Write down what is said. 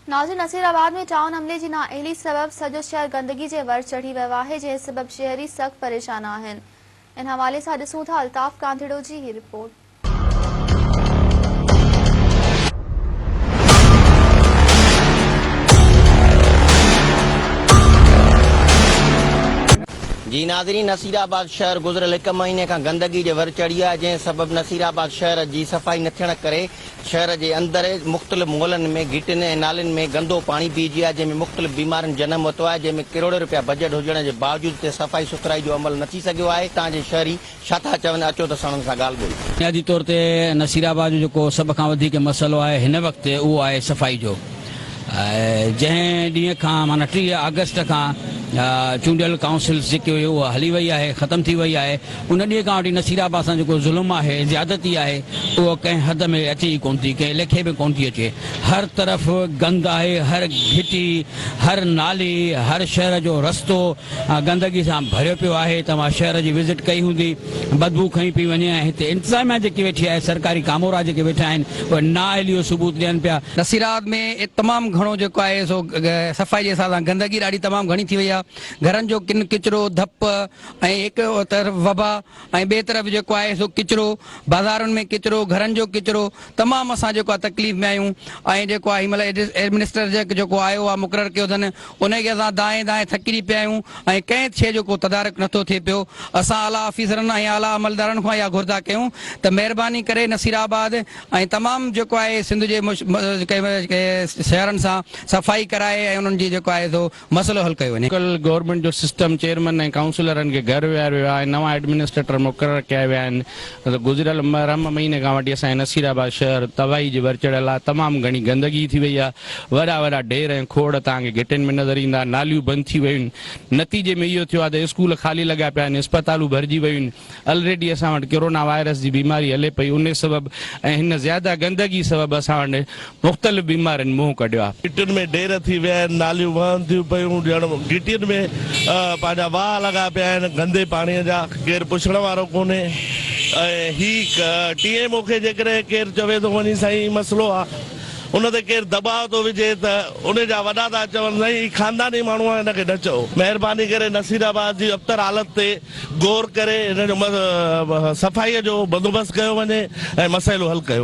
ناظرين Nasirabad ۾ town عملي جي نااهلي سبب سڄو شهر گندگي جي ور چڙهي ويو آهي جنهن سبب شهري سخت پريشان آهن ان حوالي سان ڏسون ٿا الطاف ڪانڌڙو جي هي رپورٽ. جي ناظرين نصير آباد شهر گذريل هڪ مهيني کان گندگي جي ور چڙهي آهي جنهن سبب نصير آباد شهر جي صفائي نه ٿيڻ ڪري شهر جي اندر مختلف محلن ۾ گهٽين ۽ نالين ۾ گندو پاڻي بيهجي آهي جنهن ۾ مختلف بيمارين جنم ورتو آهي جنهن ۾ ڪروڙين رپيا بجيٽ هجڻ جي باوجود اتي صفائي سٿرائي جو عمل نه ٿي سگهيو آهي اتان جي شهري ڇا ٿا چون اچو ته اسان انهن سان ڳالهه ٻولهه بنيادي طور تي نصيرآباد جو جيڪو سڀ کان وڌيڪ مسئلو آهي هن وقت اهو آهي صفائي جو. جنهن ڏينهن کان معنيٰ ٽيهه آگسٽ کان چونڊيل ڪائونسلز جيڪي هئي اها هلي وئي آهي ختم ٿي وئي آهي ان ڏينهن کان وٺي نصير عباس سان جيڪو ظلم آهي زيادتي آهي اهو ڪنهن حد ۾ اچي ئي ڪونه ٿي ڪنهن ليکي ۾ ڪونه ٿي اچي هر طرف گند آهي هر گهٽي هر نالي هر شهر جو رستو گندگي سان ڀريو پيو آهي توهان شهر جي وزٽ ڪئي هوندي بدبو کنئي پئي وڃي ۽ هتي انتظاميا جيڪي ويٺي آهي سرڪاري ڪامورا جيڪي ويٺا آهن اهي نااهلي جو ثبوت ڏين پيا. نصيرآباد ۾ تمام گهڻو جيڪو آهي سو صفائي جي حساب سان گندگي ڏاڍي تمام گهڻي ٿي وئي آهي گهرن جو ڪن ڪچرو ڌپ ۽ هڪ طرف وبا ۽ ٻئي طرف جيڪو آهي سو ڪچرو بازارن ۾ ڪچرو گهرن جو ڪچرو تمام اسان جيڪو آهي تڪليف ۾ آهيون ۽ جيڪو آهي هن مهل ايڊمنسٽر جيڪو آيو آهي مقرر ڪيو اٿن انهيء کي اسان دانهين دانهين ٿڪجي پيا آهيون ۽ ڪنهن شيء جو ڪو تدارڪ نٿو ٿئي پيو. اسان اعليٰ آفيسرن ۽ اعليٰ عملدارن کان اها گهردا ڪيون ته مهرباني ڪري نصير آباد ۽ تمام جيڪو آهي سنڌ جي شهرن سان صفائي ڪرائي ۽ انهن جي جيڪو آهي سو مسئلو حل ڪيو وڃي. لوڪل گورنمينٽ جو سسٽم چيئرمين ۽ ڪائونسلرن کي گهر ويهاريو ويو آهي ۽ نوان ايڊمنسٽريٽر مقرر ڪيا ويا آهن. گذريل محرم مهيني کان وٺي اسان جي نصير آباد شهر تباهي جي ور چڙهيل آهي، تمام گهڻي گندگي ٿي وئي آهي، وڏا وڏا ڍير ۽ کوڙ توهان کي گهٽين ۾ نظر ايندا، ناليون بند ٿي ويون آهن، نتيجي ۾ اهو ٿيو آهي ته اسڪول خالي لڳا پيا آهن، اسپتالون ڀرجي ويون آهن، الريڊي اسان وٽ ڪرونا وائرس جي بيماري هلي پئي انهي سبب ۽ هن زياده گندگي سبب اسان وٽ مختلف بيمارين منهن ڪڍيو آهي. گهٽين ۾ ڍير ٿي ويا آهن، ناليون وهن ٿيون پيون ڄڻ گهٽين ۾ پنهنجا واهه لڳا پيا آهن گندي پاڻي جا، ڪير پڇڻ وارو ڪونهي ۽ هي ٽي ايم او کي جيڪڏهن ڪير چوي ٿو وڃي سائين هي مسئلو آ ان تي ڪير دٻاء ٿو وجهي ته انهي جا وڏا ٿا چون سائين هي خانداني ماڻهو آ هن کي نه چئو. مهرباني ڪري نصيرآباد جي ابتر حالت تي غور ڪري هن جو صفائي جو بندوبست ڪيو وڃي ۽ مسئلو حل ڪيو.